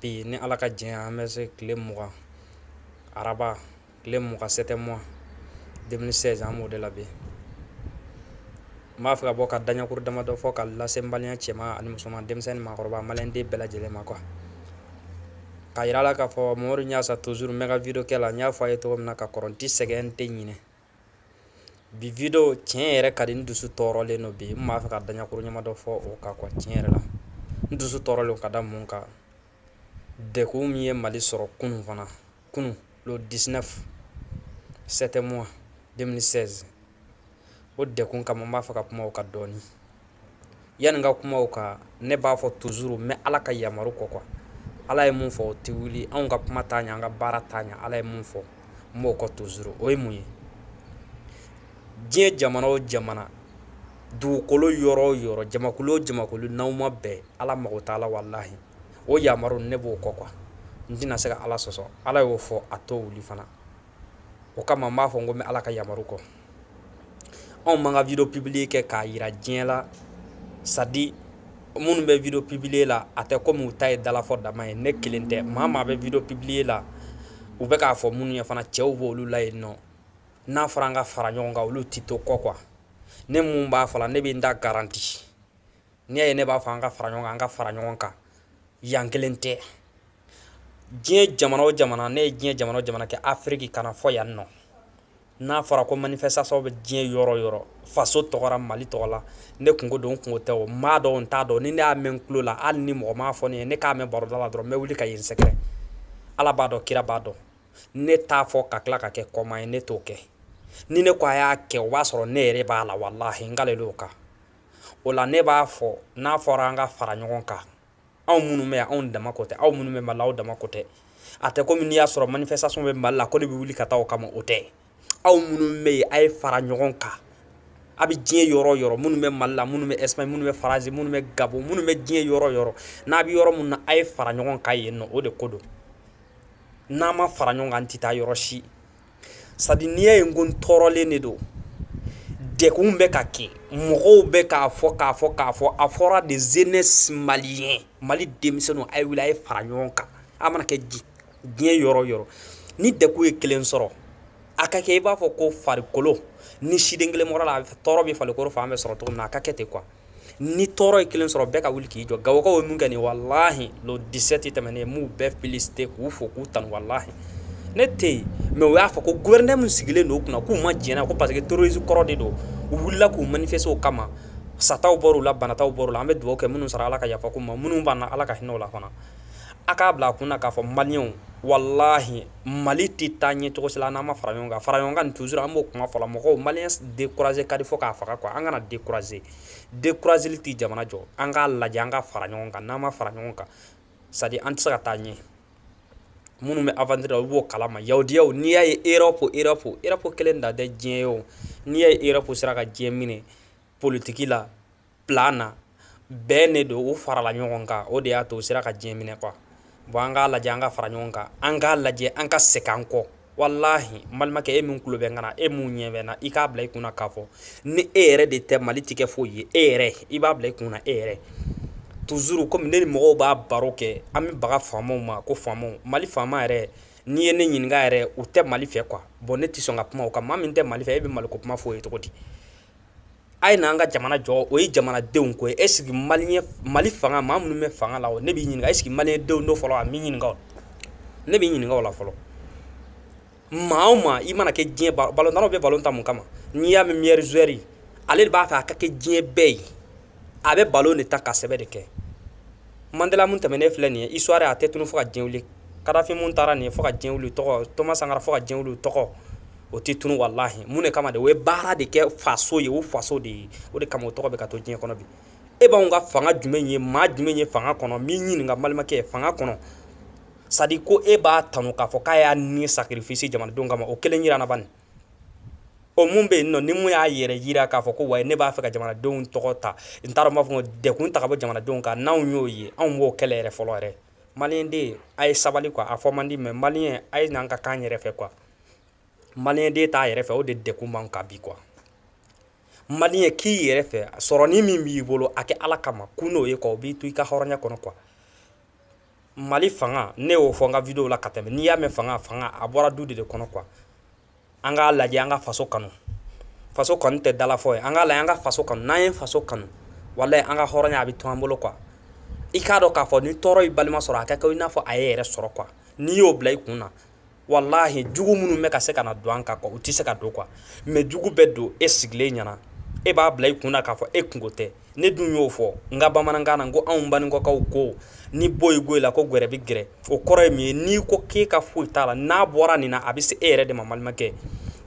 bi ni ala ka diɲɛ an bɛ se tile mugan araba tile mugan 7 mois 2016 an b'o de la bi n b'a fɛ ka bɔ ka daɲɛkuru damadɔ fɔ ka lase n balima cɛman ani musoman denmisɛnnin maakɔrɔba malien den bɛɛ lajɛlen ma quoi k'a yira a la k'a fɔ mamadu y'a sa toujours n bɛ ka video kɛ la n y'a fɔ a ye cogo min na ka kɔrɔ n ti sɛgɛn n tɛ ɲinɛ bi video tiɲɛ yɛrɛ ka di n dusu tɔɔrɔlen don bi n b'a fɛ ka daɲɛkuru ɲɛma dɔ fɔ o kan quoi tiɲɛ yɛrɛ la n dusu tɔɔrɔlen ka da mun kan dɛgun min ye mali sɔrɔ kunun fana kunun le 19 7 mois 2016 o dɛgun kama n b'a fɛ ka kuma o kan dɔɔni yanni ka kuma o kan ne b'a fɔ toujours n bɛ Ala ka yamaru kɔ quoi Ala ye mun fɔ o tɛ wuli anw ka kuma t'a ɲɛ an ka baara t'a ɲɛ Ala ye mun fɔ n b'o kɔ toujours o ye mun ye diɲɛ jamana o jamana dugukolo yɔrɔ o yɔrɔ jamakulu o jamakulu n'aw ma bɛn Ala mago t'a la walahi o yamaru ne b'o kɔ quoi n tɛna se ka Ala sɔsɔ Ala y'o fɔ a t'o wuli fana o kama n b'a fɔ n ko n bɛ ala ka yamaru kɔ anw man ka video publier kɛ k'a yira diɲɛ la c'est-à-dire minnu bɛ video publier la a tɛ komi u ta ye dalafɔ dama ye ne kelen tɛ maa maa bɛ video publier la u bɛ k'a fɔ minnu ye fana cɛw b'olu la yen nɔ n'a fɔra an ka fara ɲɔgɔn kan olu ti to kɔ quoi ne mun b'a fɔ la ne bɛ n ta garanti n'i y'a ye ne b'a fɔ an ka fara ɲɔgɔn kan an ka fara ɲɔgɔn kan yan kelen tɛ diɲɛ jamana o jamana ne ye diɲɛ jamana o jamana kɛ afiriki ka na fo yan nɔ n'a fɔra ko manifestation bɛ diɲɛ yɔrɔ yɔrɔ faso tɔgɔ ra mali tɔgɔ la ne kunko don n kunko tɛ o n b'a dɔn o n t'a dɔn ni ne y'a mɛn n tulo la hali ni mɔgɔ m'a fɔ ne ye ne k'a mɛn baroda la dɔrɔn n bɛ wuli ka yen sɛgɛrɛ ala b'a dɔn kira b'a dɔn ne t'a fɔ ka tila ka kɛ kɔmaa ye ne t'o kɛ ni ne ko a y'a kɛ o b'a sɔrɔ ne yɛrɛ b'a la walahi n kalelen don o kan o la ne b'a fɔ n'a fɔra an ka fara ɲɔgɔn kan anw minnu bɛ yan anw dama ko tɛ aw minnu bɛ mali la aw dama ko tɛ a tɛ komi n'i y'a sɔrɔ manifestation bɛ mali la ko ne bɛ wuli ka taa o kama o tɛ aw minnu bɛ yen a ye fara ɲɔgɔn kan a bɛ diɲɛ yɔrɔ yɔrɔ minnu bɛ mali la minnu bɛ espagne minnu bɛ faransi minnu bɛ gabon minnu bɛ diɲɛ yɔrɔ yɔrɔ n'a bɛ yɔrɔ min na a ye fara ɲɔgɔn kan yen nɔ o de ko don n'an ma fara ɲɔgɔn kan an tɛ taa yɔrɔ si c'est-à-dire n'i y'a ye n ko n tɔɔrɔlen de don dɛgun bɛ ka kɛ mɔgɔw bɛ k'a fɔ k'a fɔ k'a fɔ a fɔra de jeunesse malien mali denmisɛnw a ye wili a ye fara ɲɔgɔn kan a mana kɛ diɲɛ yɔrɔ yɔrɔ ni dɛgun ye kelen sɔrɔ a ka kɛ i b'a fɔ ko farikolo ni siden kelen bɔra a la a tɔɔrɔ bɛ farikolo fan bɛɛ sɔrɔ cogo min na a ka kɛ ten quoi ni tɔɔrɔ ye kelen sɔrɔ bɛɛ ka wuli k'i jɔ gawokaw ye min kɛ nin walahi le dix-sept tɛmɛnen n b'u bɛɛ féliciter k'u fo k'u tanu walahi ne tɛ yen mais u y'a fɔ ko gouverneur min sigilen don u kunna k'u ma jɛn n'a ko parce que terroriste kɔrɔ de don u wulila k'u manifester o kama sataw bɔra u la banataw bɔra u la an bɛ dugawu kɛ minnu sara ala ka yafa u ma minnu banna ala ka hinɛ o la fana a k'a bila a kun na k'a fɔ maliyɛnw walahi mali tɛ taa ɲɛ cogo si la n'an ma fara ɲɔgɔn kan fara ɲɔgɔn kan nin toujours an b'o kuma fɔ la mɔgɔw maliyɛn dekuraze ka di fo k'a faga quoi an kana dekuraze dekurazeli tɛ jamana jɔ an k'a lajɛ an ka fara ɲɔgɔn kan n'an ma fara ɲɔgɔn kan c'est à dire an tɛ se ka taa ɲɛ minnu bɛ aventure la olu b'o kalama yahudiyaw n'i y'a ye europe europe europe kelen dan tɛ diɲɛ ye o n'i y'a ye europe sera ka diɲɛ minɛ politiki la plan na bɛn de don u farala ɲɔgɔn kan o de y'a to u sera ka diɲɛ minɛ quoi bon an k'a lajɛ an ka fara ɲɔgɔn kan an k'a lajɛ an ka segin an kɔ walahi balimakɛ e min tulo bɛ n kan na e min ɲɛ bɛ n na i k'a bila i kunna k'a fɔ ni e yɛrɛ de tɛ mali tɛ kɛ foyi ye e yɛrɛ i b'a bila i kunna e yɛrɛ toujours komi ne ni mɔgɔw b'a baro kɛ an bɛ baga faamaw ma ko faamaw mali faama yɛrɛ n'i ye ne ɲininka yɛrɛ u tɛ mali fɛ quoi bon ne tɛ sɔn ka kuma o kan maa min tɛ mali fɛ e bɛ maliko kuma fɔ o ye cogo di a ye na an ka jamana jɔ o ye jamanadenw ko est-ce que mali mali fanga maa minnu bɛ fanga la ne bɛ ɲininka est-ce que malidenw don fɔlɔ an b'i ɲininka ne b'i ɲininka o la fɔlɔ maa ma i mana kɛ diɲɛ ballon d'or o bɛ ballon tan mun kama n'i y'a mɛn meilleur joueur ale de b'a fɛ a ka kɛ diɲɛ bɛɛ ye a bɛ ballon de tan ka sɛbɛ de kɛ mandela min tɛmɛnen filɛ nin ye histoire a tɛ tunun fo ka diɲɛ wuli kadafi min taara nin ye fo ka diɲɛ wuli tɔgɔ thomas sankara fo ka diɲɛ wuli tɔgɔ o tɛ tunun walahi mun de kama de o ye baara de kɛ faso ye o faso de ye o de kama o tɔgɔ bɛ ka to diɲɛ kɔnɔ bi e b'anw ka fanga jumɛn ye maa jumɛn ye fanga kɔnɔ n b'i ɲininka balimakɛ ye fanga kɔnɔ c'est à dire ko e b'a tanu k'a fo k'a y'a ni sacrifier jamanadenw kama o kelen jira n na ban o min bɛ yen n'o min y'a yɛrɛ jira k'a fɔ ko wa ne b'a fɛ ka jamanadenw tɔgɔ ta n t'a dɔn n b'a fɔ ko degun ta ka bɔ jamanadenw kan n'anw y'o ye anw b'o kɛlɛ yɛrɛ fɔlɔ yɛrɛ maliyɛn den a ye sabali quoi a fɔ man di mais maliyɛn a ye n'an ka k'an yɛrɛ fɛ quoi maliyɛn den t'a yɛrɛ fɛ o de degun b'an kan bi quoi maliyɛn k'i yɛrɛ fɛ sɔrɔni min b'i bolo a kɛ ala kama kun n'o ye quoi o b'i to i ka hɔrɔnya kɔnɔ quoi mali fanga ne y'o fɔ n ka video la ka tɛmɛ n'i y'a mɛn fanga fanga a bɔra du de de kɔnɔ quoi an k'a lajɛ an ka faso kanu faso kanu tɛ dalafɔ ye an k'a lajɛ an ka faso kanu n'an ye faso kanu walayi an ka hɔrɔnya a bɛ to an bolo quoi i k'a dɔn k'a fɔ ni tɔɔrɔ y'i balima sɔrɔ a ka kɛ i n'a fɔ a y'i yɛrɛ sɔrɔ quoi n'i y'o bila i kun na walahi jugu minnu bɛ ka se ka na don an kan quoi u tɛ se ka don quoi mais jugu bɛ don e sigilen ɲɛna e b'a bila i kun na k'a fɔ e kungo tɛ ne dun y'o fɔ n ka bamanankan na ko anw baninkɔkaw ko ni boyi goyi la ko gwɛrɛ bɛ gɛrɛ o kɔrɔ ye min ye n'i ko k'e ka foyi t'a la n'a bɔra nin na a bɛ se e yɛrɛ de ma balimakɛ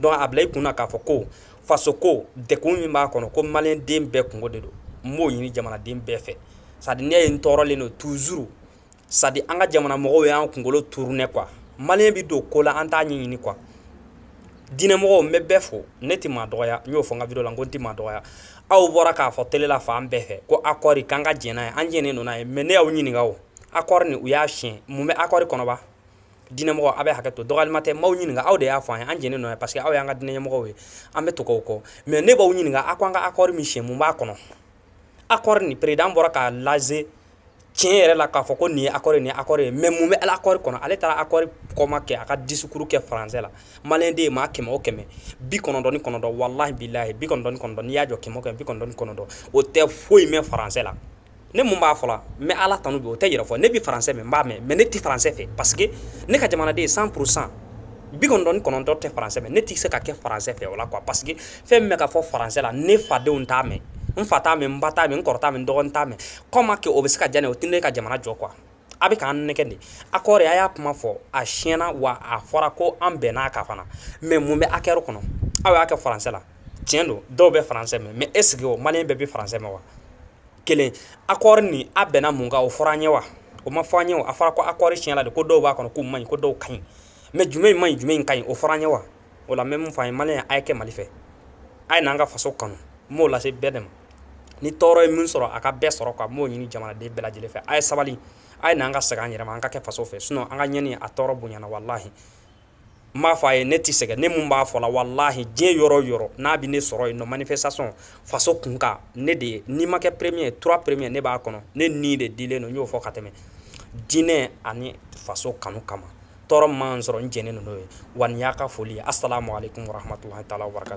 donc a bila i kun na k'a fɔ ko faso ko dekun min b'a kɔnɔ ko maliyɛnden bɛɛ kungo de don n b'o ɲini jamanaden bɛɛ fɛ sadi ne ye n tɔɔrɔlen don toujours sadi an ka jamana mɔgɔw y'an kunkolo turunen quoi maliyɛn bɛ don ko la an t'a ɲɛɲini quoi diinɛmɔgɔw n bɛ bɛɛ fo ne tɛ maa dɔgɔya n y'o fɔ n ka video la n ko n tɛ maa dɔgɔya aw bɔra k'a fɔ tele la fan bɛɛ fɛ ko accord k'an ka jɛn n'a ye an jɛnnen don n'a ye mais ne y'aw ɲininka o accord nin u y'a siɲɛ mun bɛ accord kɔnɔ ba diinɛmɔgɔ aw bɛ hakɛ to dɔgɔyalima tɛ n b'aw ɲininka aw de y'a fɔ an ye an jɛnnen don n'a ye parce que aw y'an ka diinɛɲɛmɔgɔw ye an bɛ tugu aw kɔ mais ne b'aw ɲininka aw ko an ka accord min siɲɛ mun b'a kɔnɔ accord nin président bɔra k'a lase tiɲɛ yɛrɛ la k'a fɔ ko nin ye accord nin accord ye mais mun bɛ accord kɔnɔ ale taara accord comment que a ka discours kɛ faransɛ la maliyɛnden maa kɛmɛ o kɛmɛ bi kɔnɔntɔn ni kɔnɔntɔn walahi bilahi bi kɔnɔntɔn ni kɔnɔntɔn n'i y'a jɔ kɛmɛ o kɛmɛ bi kɔnɔntɔn ni kɔnɔntɔn o tɛ foyi mɛn faransɛ la ne mun b'a fɔ la n bɛ ala tanu bi o tɛ yɛrɛ fɔ ne bɛ faransɛ mɛn n b'a mɛn mais ne tɛ faransɛ fɛ parce que ne ka jamanaden cent pour cent bi kɔnɔntɔn ni kɔnɔntɔn tɛ faransɛ mɛn ne tɛ se ka kɛ faransɛ fɛ o la quoi parce que fɛn min bɛ ka fɔ faransɛ la ne fadenw t'a mɛn n fa t'a mɛn n ba t'a mɛn n kɔrɔ t'a mɛn n dɔgɔnin t'a mɛn comment que o bɛ se ka diya ne ye o tɛ ne ka jamana jɔ quoi a bɛ k'an nɛgɛ de accord a y'a kuma fɔ a siɲɛna wa a fɔra ko an bɛnn'a kan fana mais mun bɛ accord kɔnɔ aw y'a kɛ faransɛ la tiɲɛ don dɔw bɛ faransɛ mɛn mais est-ce que o maliyɛn bɛɛ bɛ faransɛ mɛn wa kelen accord nin a bɛnna mun kan o fɔra an ɲɛ wa o ma fɔ an ɲɛ a fɔra ko accord tiɲɛna de ko dɔw b'a kɔnɔ k'u man ɲi ko dɔw ka ɲi mais jumɛn in man ɲi jumɛn in ka ɲi o fɔra an ɲɛ wa o la n bɛ mun f'a ye maliyɛn a ye kɛ mali fɛ a ye n'an ka faso kanu n b'o lase bɛɛ de ma ni tɔɔrɔ ye min sɔrɔ a ka bɛɛ sɔrɔ quoi n b'o ɲini jamanaden bɛɛ lajɛlen fɛ a ye sabali a ye n'an ka segin an yɛrɛ ma an ka kɛ faso fɛ sinon an ka ɲɛni a tɔɔrɔ bonyana walahi n b'a fɔ a ye ne tɛ sɛgɛn ne mun b'a fɔ la walahi diɲɛ yɔrɔ o yɔrɔ n'a bɛ ne sɔrɔ yen nɔ manifestation faso kunkan ne de ye n'i ma kɛ premier ye trois premier ne b'a kɔnɔ ne ni de dilen don n y'o fɔ ka tɛmɛ diinɛ ani faso kanu kama tɔɔrɔ ma sɔrɔ n jɛnɛ ninnu ye wa y'a ka foli a sala ma ale tun waratumatu taa wara